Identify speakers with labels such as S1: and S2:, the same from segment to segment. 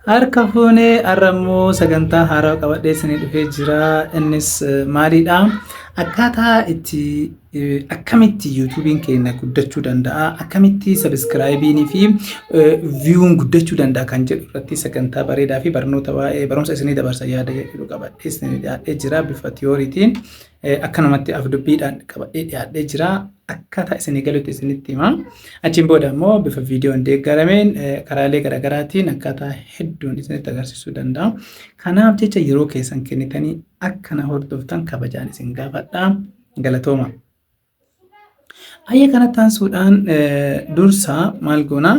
S1: Harka fuunee har'a immoo sagantaa haaraa qabadhee isinii dhufee jira. Innis eh, maalidha? Akkaataa itti eh, akkamitti yuutuubiin keenya guddachuu danda'a, akkamitti sabiskiraayibiinii fi eh, viyuun guddachuu danda'a kan jedhu irratti sagantaa bareedaa fi barnoota waa'ee barumsa isinii dabarsa yaada jedhu qabadhee isinii dhiyaadhee jira bifa tiyooriitiin. Akka namatti afdubbiidhaan qabadhee dhiyaadhee jira. Akkaataa isinii galutti isinitti hima. Achiin booda immoo bifa viidiyoon deeggarameen karaalee garaagaraatiin akkaataa hedduun isinitti agarsiisuu danda'a. Kanaaf jecha yeroo keessan kennitanii akka na hordoftan kabajaan isin gaafadha. Galatooma. Hayyee kanatti aansuudhaan dursa maal goona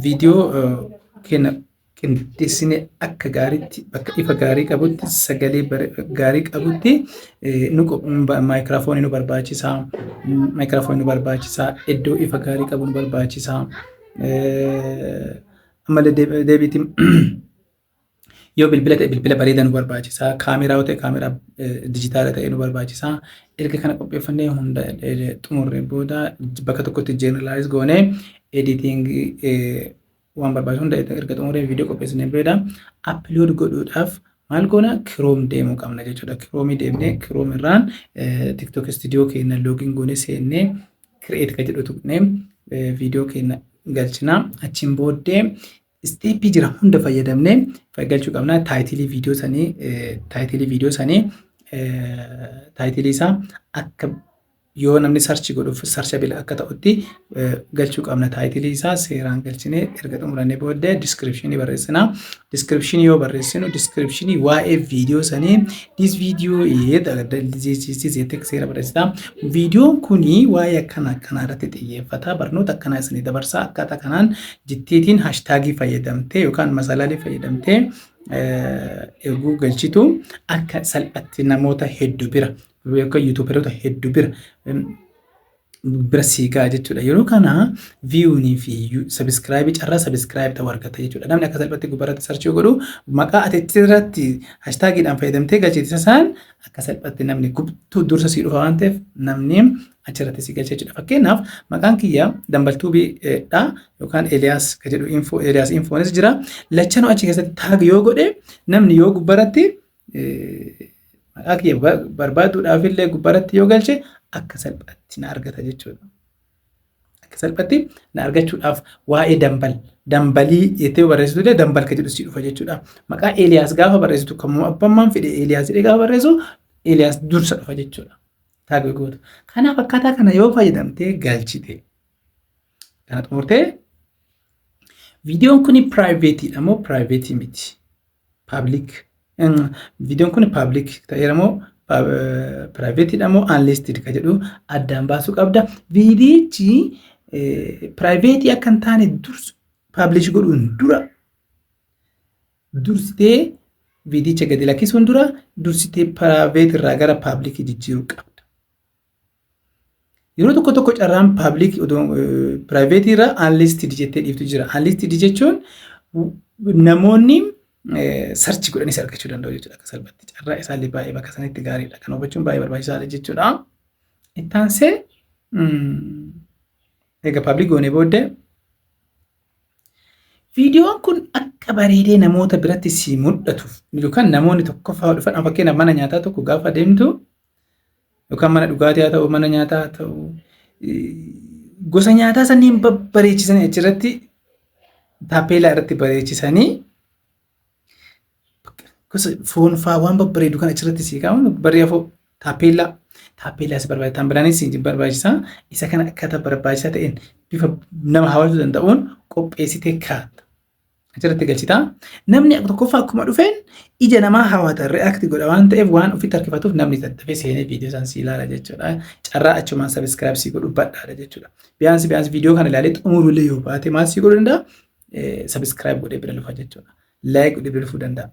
S1: viidiyoo keenya qindeessine akka gaariitti bakka ifa gaarii qabutti sagalee gaarii qabutti maayikiraafoonii nu barbaachisa maayikiraafoonii nu barbaachisa iddoo ifa gaarii qabu nu barbaachisa ammallee deebiitiin Yoo bilbila ta'e bilbila bareedaa nu barbaachisa. Kaameraa yoo ta'e kaameraa dijitaala ta'e nu barbaachisa. Erga kana qopheeffannee hunda xumurree booda bakka tokkotti jeneralaayiz goonee editingii waan barbaachisu hunda erga xumurree viidiyoo qopheessinee booda appilood godhuudhaaf maal goona kiroom deemuu qabna jechuudha. Kiroomii deemnee kiroom irraan tiktok istiidiyoo keenya loogiin goonee seennee kireet ka jedhu tuqnee viidiyoo keenya galchina. Achiin booddee Isteeppii jiran hunda fayyadamnee galchuu qabna. Taayitilii viidiyoo sanii taayitilii viidiyoo sanii taayitilii isaa akka yoo namni sarchi godhuuf sarcha bila akka ta'utti galchuu qabna. Taayitilii isaa seeraan galchinee erga xumurannee booddee diskiripshinii barreessina. Diskiripshinii yoo barreessinu diskiripshinii waa'ee viidiyoo sanii this video jettee seera barreessita. Viidiyoon kuni waa'ee akkana akkanaa irratti xiyyeeffata. Barnoota akkanaa isinii dabarsa. Akkaataa kanaan jittiitiin hashtaagii fayyadamtee yookaan masalaalii fayyadamtee erguu galchitu akka salphatti namoota heddu bira yookaan yuutuuberoota heddu bira bira sii ga'a jechuudha. Yeroo kana viyuunii fi sabiskiraayibii carraa sabiskiraayibii ta'uu argata jechuudha. Namni akka salphatti gubbaarratti sarchii godhu maqaa ati irratti hashtaagiidhaan fayyadamtee galchite sasaan akka salphatti namni gubtuu dursa sii dhufa waan ta'eef namni achirratti si galcha jechuudha. Fakkeenyaaf maqaan kiyya dambaltuubii dha yookaan Eeliyaas ka jedhu info Eeliyaas infoonis jira. Lachanuu achi keessatti taag yoo godhe namni yoo gubbaratti maqaa kiyya barbaaduudhaaf illee gubbaratti yoo galche akka salphaatti na argata jechuudha. Akka salphaatti na argachuudhaaf waa'ee dambal dambalii jettee yoo barreessitu illee dambal ka jedhu si dhufa jechuudha. Maqaa Eeliyaas gaafa barreessitu kammoo abbammaan fedhe Eeliyaas jedhee gaafa barreessu Eeliyaas dursa dhufa jechuudha. tag goota. Kanaaf akkaataa kana yoo fayyadamtee galchite kana xumurtee viidiyoon kun piraayiveetiidha moo piraayiveetii miti paablik viidiyoon kun paablik ta'eera moo piraayiveetiidha moo anliistid ka jedhu addaan baasuu qabda viidiyichi piraayiveetii akka hin taane dursu paablish godhuun dura dursitee viidiyicha gadi lakkisuun dura dursitee piraayiveet irraa gara paablikii jijjiiruu qabda. Yeroo tokko tokko carraan paablikii piraayiveetii irraa aanliistid jettee dhiiftu jira. Aanliistid jechuun namoonni sarchi godhanis argachuu danda'u jechuudha akka salphatti. Carraa isaallee baay'ee bakka sanitti gaariidha. Kan hubachuun baay'ee barbaachisaadha jechuudha. Ittaansee Egaa pabliik goonee booddee viidiyoon kun akka bareedee namoota biratti si mul'atuuf yookaan namoonni tokkoffaa dhufan fakkeenyaaf mana nyaataa tokko gaafa deemtu yookaan mana dhugaatii haa ta'u mana nyaataa haa ta'u gosa nyaataa sanniin babbareechisanii achirratti taapeelaa irratti bareechisanii Gosa foon faa waan babbareedu kan achirratti sii kaa'amu barree afoo taappeellaa taappeellaa si barbaachisa kan biraanis si barbaachisa isa kana akkaataa barbaachisaa ta'een bifa nama hawwatuu danda'uun qopheessitee kaa'atta. Achirratti galchita. Namni tokkoffaa akkuma dhufeen ija namaa hawwata react godha waan ta'eef waan ofitti harkifatuuf namni tattafee seenee viidiyoo san si ilaala jechuudha. Carraa achumaan sabiskiraayib si godhu badhaadha jechuudha. Biyyaansi biyyaansi viidiyoo kana ilaalee xumuruullee yoo baate maal si godhu danda'a? Subscribe godhee bira lufa jechuudha. Like godhee bira lufuu danda'a.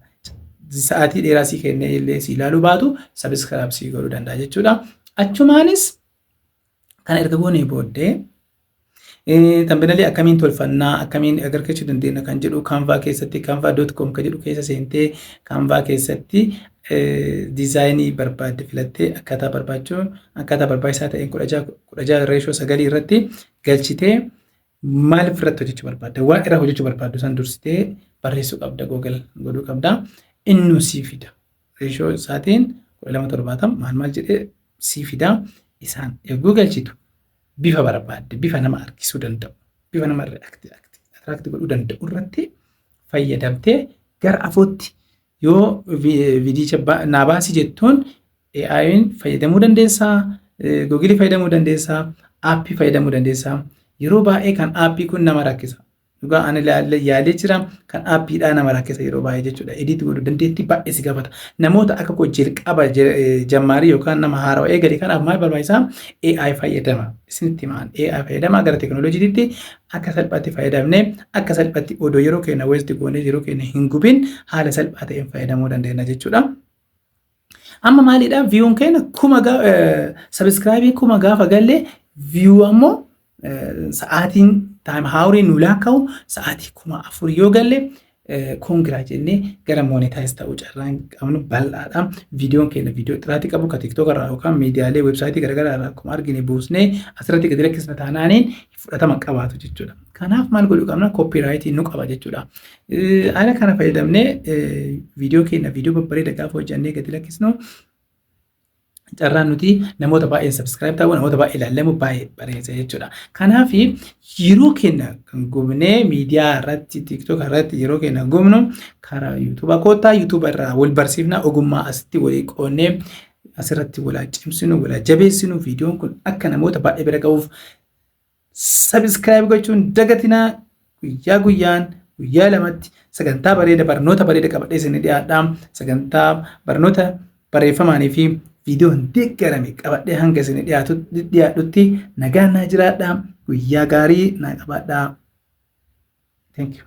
S1: Sa'aatii dheeraa sii kennee illee sii ilaaluu baatu subscribe sii godhuu danda'a jechuudha. Achumaanis kana erga goonee booddee tambenalii akkamiin tolfannaa akkamiin agargachuu dandeenya kan jedhu kanvaa keessatti kanvaa doot koom kan jedhu keessa seentee kanvaa keessatti diizaayinii barbaadde filattee akkaataa barbaachuun akkaataa barbaachisaa ta'een kudha jaha reeshoo sagalii irratti galchitee Maaliif irratti hojjechuu barbaadda? Waan irra hojjechuu barbaaddu san dursitee barreessuu qabda Google godhuu qabda. Innu sii fida. Reeshoo isaatiin 1270 maal maal jedhee sii fida. Isaan eeguu galchitu bifa barbaadde bifa nama harkisuu danda'u bifa nama attract godhuu danda'u irratti fayyadamtee gara afootti Yoo viidiyicha naa baasi jettuun AI'n fayyadamuu dandeessaa, Google fayyadamuu dandeessaa, aappii fayyadamuu dandeessaa. Yeroo baay'ee kan aappii kun nama rakkisa. Dhugaa ani ilaallee yaalee jira kan aappiidhaa nama rakkisa yeroo baay'ee jechuudha. Ediit godhu dandeettii baay'ee si gaafata. Namoota akka koo jalqaba jammaarii yookaan nama haarawa eegale kanaaf maal barbaachisaa? AI fayyadama. Isinitti himaan AI fayyadama gara tekinooloojiitti akka salphaatti fayyadamne akka salphaatti odoo yeroo keenya waste goonee yeroo keenya hin gubin haala salphaa ta'een fayyadamuu dandeenya jechuudha. Amma maalidha viyuun keenya kuma sabiskiraayibii kuma gaafa galle viyuu ammoo sa'aatiin taayim haawuriin nu laakka'u sa'aatii kuma afur yoo galle koongiraa jennee gara monetaayiz ta'uu carraan qabnu bal'aadha. Viidiyoon keenya viidiyoo xiraatii qabu ka tiktook irraa yookaan miidiyaalee weebsaayitii garaagaraa irraa akkuma argine buusnee asirratti gadi lakkisna taanaaniin fudhatama qabaatu jechuudha. Kanaaf maal godhuu qabna? Kooppiiraayitii nu qaba jechuudha. Haala kana fayyadamnee viidiyoo keenya viidiyoo babbareeda gaafa hojjannee gadi lakkisnu carraan nuti namoota baay'een subscribe ta'uu namoota baay'ee ilaallamu baay'ee bareessa jechuudha. Kanaaf yeroo keenya kan gubnee miidiyaa irratti tiktok irratti yeroo keenya gubnu karaa yuutuuba koottaa yuutuuba irraa wal barsiifna ogummaa asitti walii qoonnee asirratti walaa cimsinu walaa jabeessinu viidiyoon kun akka namoota baay'ee bira ga'uuf Subscribe gochuu hin dagatinaa guyyaa guyyaan guyyaa lamatti sagantaa bareeda barnoota bareeda qabadhee isin dhiyaadha sagantaa barnoota barreeffamaanii fi viidiyoon deeggarame qabadhee hanga isin dhiyaadhutti nagaa naa jiraadha guyyaa gaarii naa qabaadha. Thank you.